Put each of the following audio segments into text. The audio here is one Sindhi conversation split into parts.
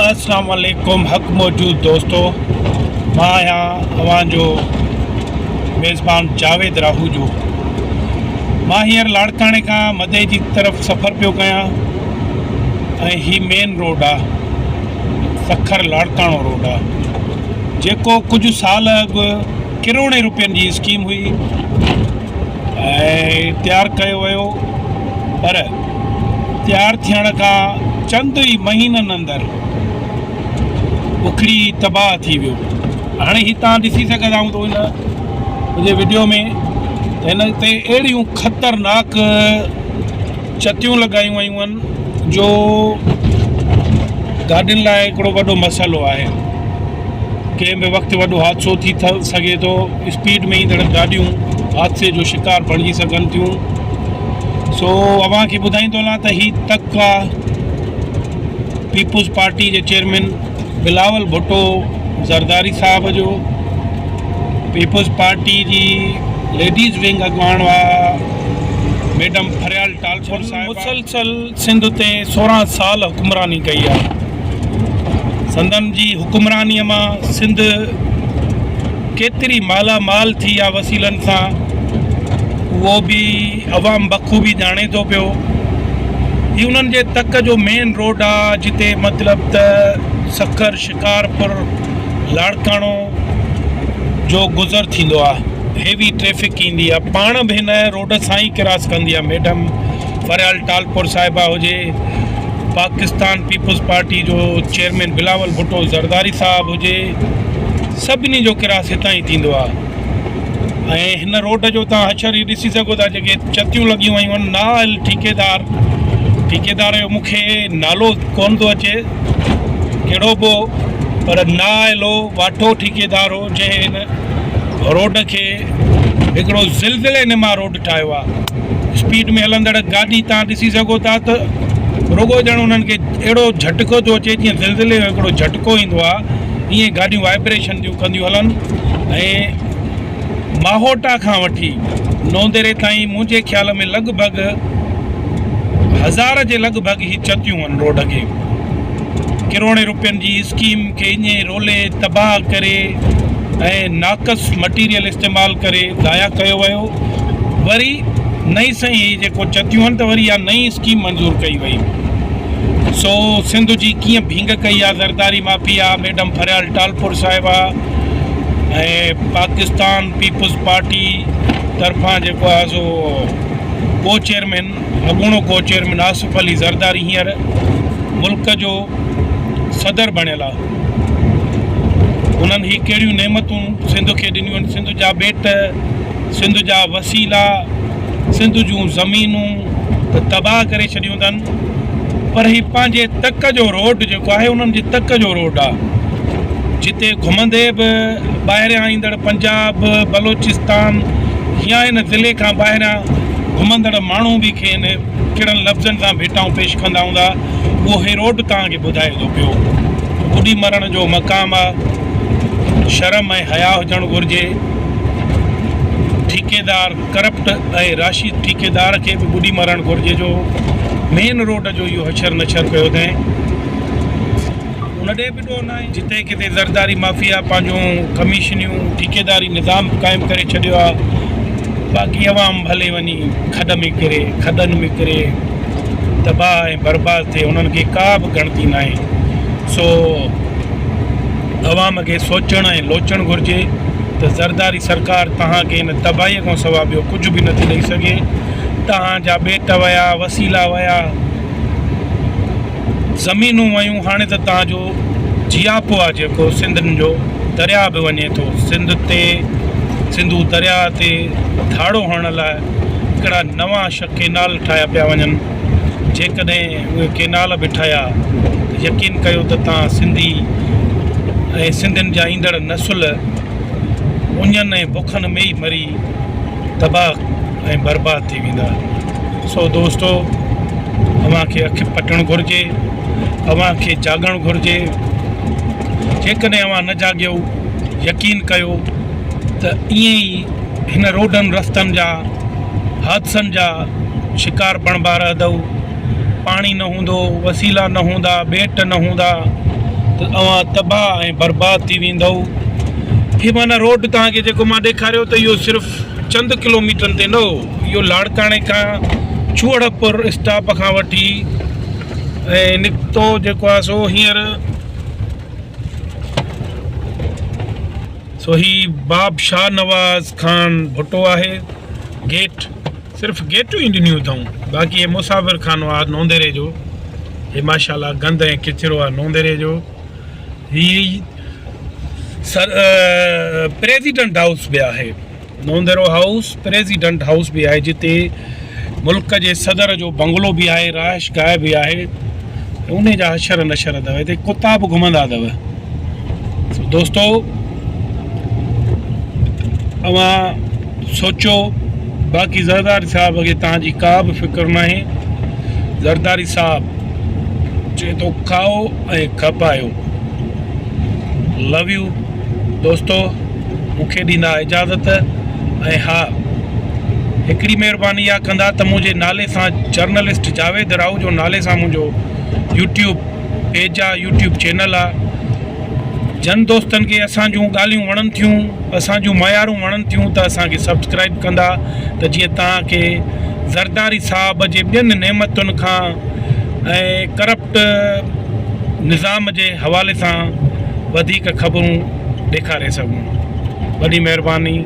السلام عليڪم حق موجود دوستو مان آهيان اوهان جو ميزبان جاويد راهوجو مان هينئر لاڙڪاڻي کان مدئي جي طرف سفر پيو ڪيان ۽ هي مين روڊ آهي سکر لاڙڪاڻو روڊ آهي جيڪو ڪجهه سال اڳ ڪروڙين روپين جي اسڪيم هئي ۽ تيار ڪيو ويو پر تيار ٿيڻ کان چند ئي مهينن اندر اکڙي تباهه ٿي ويو هاڻي هي تان ڏسي سگهندا آهيون تو هن جي ويڊيو ۾ هن تي اهڙيون خطرناڪ چتيون لڳايون ويون آهن جو گاڏين لاء هڪڙو وڏو مسئلو آهي ڪنهن به وقت وڏو حادثو ٿي سگهي ٿو اسپيڊ ۾ ايندڙ گاڏيون حادثي جو شڪار بڻجي سگهن ٿيون سو اوهان کي ٻڌائيندو هلان ته هي تڪ آ پيپلز پارٽي جي چيئرمين بلاول ڀٽو زرداري صاحب جو پيپلز پارٽي جي ليڊيز ونگ اڳواڻ هئا ميڊم فريال ٽالپر صاحب مسلسل سنڌ تي سورهن سال حڪمراني ڪئي آ سندن جي حڪمرانيء مان سنڌ ڪيتري مالا مال ٿي آ وسيلن سان اهو به عوام بخوبي ڄاڻي ٿو پيو هي انهن جي تڪ جو مين روڊ آ جتي مطلب ته سکر شڪارپور لاڙڪاڻو جو گذر ٿيندو آ هيوي ٽريفڪ ايندي آ پاڻ به هن روڊ بورڊر سان ئي ڪراس ڪندي آ ميڊم فريال ٽالپر صاحبه هجي پاڪستان پيپلز پارٽي جو چيئرمين بلاول ڀٽو زرداري صاحب هجي سڀني جو ڪراس هتان ئي ٿيندو آ ۽ هن روڊ جو تان حشر هي ڏسي سگهو ٿا جيڪي چتيون لڳيون ويون آهن نااهل ٺيڪيدار ٺيڪيدار جو مونکي نالو ڪون ٿو اچي ڪهڙو بو پر نااهل هو واٺو ٺيڪيدار هو جنهن روڊ کي هڪڙو زلزلي نما روڊ ٺاهيو آهي اسپيڊ ۾ هلندڙ گاڏي تان ڏسي سگهو ٿا ته رڳو ڄڻ انهن کي اهڙو جھٽڪو ٿو اچي جيئن زلزلي جو هڪڙو جھٽڪو ايندو آهي ائين گاڏيون وائبريشن ٿيون ڪنديون هلن ۽ ماهوٽا کان وٺي نونديري تائين منهنجي خيال ۾ لڳ ڀڳ هزار جي لڳ ڀڳ هي چتيون آهن روڊ کي ڪروڙين روپين جي اسڪيم کي ايئن ئي رولي تباهه ڪري ۽ ناقص مٽيريل استعمال ڪري ضايع ڪيو ويو وري نئين سائين هي جيڪو چتيون آهن ته وري اها نئين اسڪيم منظور ڪئي وئي سو سنڌ جي ڪيئن ڀينگ ڪئي آهي زرداري مافيا ميڊم فريال ٽالپور صاحبه ۽ پاڪستان پيپلز پارٽي طرفان جيڪو آهي سو ڪو چيئرمين اڳوڻو ڪو چيئرمين آصف علي زرداري هينئر ملڪ جو صدر بڻيل آ انهن هي ڪهڙيون نعمتون سنڌ کي ڏنيون آهن سنڌ جا ٻيٽ سنڌ جا وسيلا سنڌ جون زمينون ته تباهه ڪري ڇڏيون اٿن پر هي پنهنجي تڪ جو روڊ جيڪو آهي انهن جي تڪ جو روڊ آ جتي گهمندي به ٻاهريان ايندڙ پنجاب بلوچستان يا ان ضلعي کان ٻاهريان گهمندڙ ماڻهو به کين ڪهڙن لفظن سان ڀيٽائون پيش ڪندا هوندا، اهو هيروڊ توهان کي ٻڌائي ٿو پيو. ٻڏي مرڻ جو مقام آ. شرم ۽ حياء هجڻ گهرجي. ٺيڪيدار ڪرپٽ ۽ راشد ٺيڪيدار کي به ٻڏي مرڻ گهرجي جو مين روڊ جو اهو هشر نشر ڪيو اٿين. ان ڏي به. جتي ڪٿي زرداري مافيا پنهنجون ڪميشنيون ٺيڪيداري نظام قائم ڪري ڇڏيو آ باقي عوام ڀلي وڃي کڏ ۾ ڪري کڏن ۾ ڪري تباهه ۽ برباد ٿئي انهن کي ڪا به ڳڻتي ناهي سو عوام کي سوچڻ ۽ لوچڻ گهرجي ته زرداري سرڪار توهان کي ان تباهي کان سوا ٻيو ڪجهه به نٿي ڏئي سگهي توهان جا ٻيٽ ويا وسيلا ويا زمينون ويون هاڻي ته توهان جو جياپو آ جيڪو سنڌن جو درياء به وڃي ٿو سنڌ تي سنڌو درياء تي ڌاڙو هڻڻ لاء ڪهڙا نوان شھ ڪينال ٺاهيا پيا وڃن جيڪڏهن اهي ڪينال به ٺهيا ته يقين ڪيو ته توهان سنڌي ۽ سنڌين جا ايندڙ نسل اڃن ۽ بکن ۾ ئي مري تباھ ۽ برباد ٿي ويندا سو دوستو اوھان کي اک پٽڻ گھرجي اوھان کي جاڳڻ گھرجي جيڪڏھن اوھان نه جاڳيو يقين ڪيو ته ائين ئي ھن روڊن رستن جا حادثن جا شڪار بڻبا رھدؤ. پاڻي نه هوندو، وسيلا نه هوندا، ٻيٽ نه هوندا ته اوهان تباهه ۽ برباد ٿي ويندؤ. هي معنيٰ روڊ توهان کي جيڪو مان ڏيکاريو ته اهو صرف چند ڪلوميٽرن تي نه هو. اهو لاڙڪاڻي کان چوهڙپور اسٽاپ کان وٺي ۽ نڪتو جيڪو آهي سو هينئر سو هي باب شاهنواز خان ڀٽو آهي گيٽ. صرف گيٽون ئي ڏنيون اٿئون باقي هي مسافر خانو آ نونديري جو هي ماشاءالله گند ۽ ڪچرو آ نونديري جو هي سر پريزيڊنٽ هائوس به آهي نونديرو هائوس پريزيڊنٽ هائوس به آهي جتي ملڪ جي صدر جو بنگلو به آهي رهائش گاهه به آهي ان جا حشر نشر اٿو هتي ڪتا به گهمندا اٿو دوستو اوهان سوچو باقي زرداري صاحب کي توهان جي ڪا به فڪر ناهي زرداري صاحب چئي ٿو کائو ۽ کپايو لو يو دوستو مون کي ڏيندا اجازت ۽ ها هڪڙي مهرباني اها ڪندا ته منهنجي نالي سان جرنلسٽ جاويد راهو جو نالي سان منهنجو يوٽيوب پيج آ يوٽيوب چينل آ جن دوستن کي اسان جون ڳالهيون وڻن ٿيون اسان جون معيارون وڻن ٿيون ته اسان کي سبسڪرائب ڪندا ته جيئن توهان کي زرداري صاحب جي ٻين نعمتن کان ۽ ڪرپٽ نظام جي حوالي سان وڌيڪ خبرون ڏيکاري سگهون وڏي مهرباني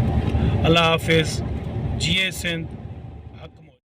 الله حافظ جيئي سنڌ حق موج.